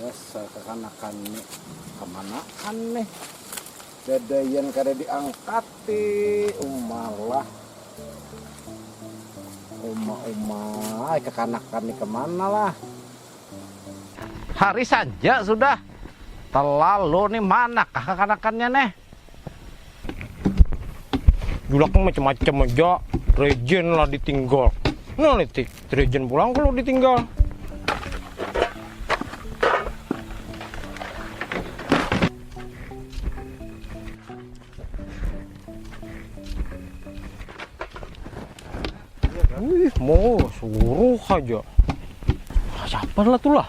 Dasar kakanakan ni, kamanaan nih, dadaian kada diangkati, uma lah, uma uma ai kakanakan ni kemana lah. Hari saja sudah, telalu nih manakah kakanakannya nih. Julaknya macam-macam aja, regen lah ditinggal. Nah, litik, regen pulang kalau ditinggal. Wih, mau suruh aja. Siapa lah tuh lah?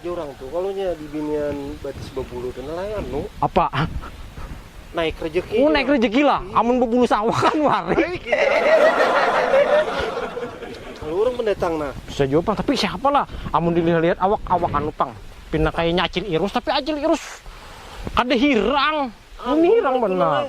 Jorang tu kalo nya di binian batis babulu tu nalai anu. Apa? Naik rejeki. Oh naik rejeki lah, amun bebulu sawah kan wari. Kalo urang pendatang nah. Bisa jua pang, tapi siapa lah amun di lihat-lihat awak awak anu pang pina kayanya acil irus tapi acil irus kada hirang. Ini hirang banar.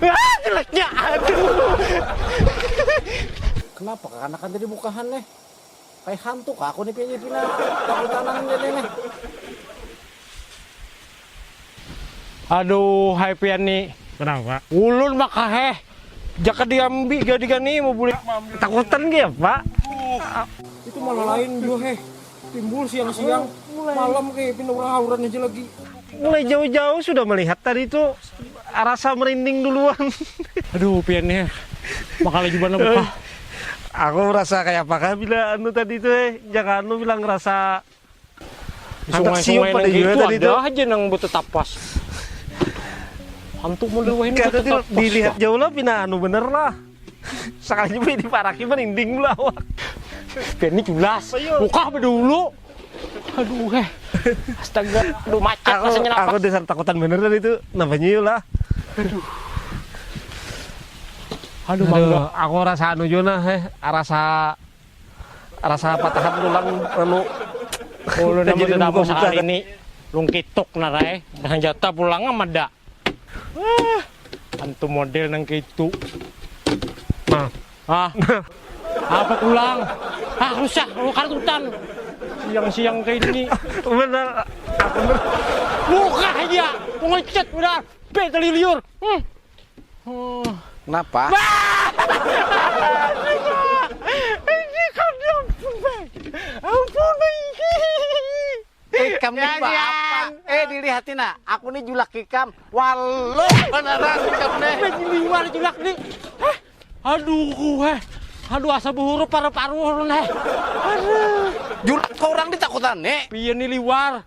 Haa jeleknya aduh. Kenapa kakanakan tadi mukahan neh kaya hantu kah aku nih pinya pina takutanan ni tadi neh. Aduh hai pian ni. Kenapa. Ulun maka heh jaka diambi gadigan ni mau bulik. Takutan gih apa. Itu malah lain jua heh. Timbul siang-siang, malam kayak pindah orang hauran aja lagi. Mulai jauh-jauh sudah melihat tadi itu rasa merinding duluan. Aduh, pian ya. Makala juga na buka. Aku merasa kayak apa kah bila anu tadi itu eh. Jangan anu bila ngerasa handak siup pada itu tadi itu. Ada aja nang betetapas. Hantu model wahini betetapas. Dilihat jauh lah pina anu bener lah. Sakalinya bini paraki merinding bulu awak. Bini culas, bukah bedulu. Aduh eh. Astaga, aduh macet aku, rasanya napas. Aku dasar takutan bener tadi itu, nabanya yuk lah. Aduh. Aduh, aduh, aku rasa anu jona eh, rasa Rasa patahan tulang lalu Tajadi nang buka buka ini lungkituk narai nang jata pulang am ada ah antu model nang keitu nah ah apa pulang ah rusak oh kartutan siang siang ke ini benar muka aja pengecut udah pe keliliur hmm. Oh, kenapa? Ikam nih apa? Eh dilihatin nak, aku nih julak ikam. Walu beneran ikam nih. Liwar julak nih. Eh, aduh gue. Eh. Aduh asa buhuru paru-paru nih. Aduh. Julak kau orang ditakutan nih. Pian nih liwar.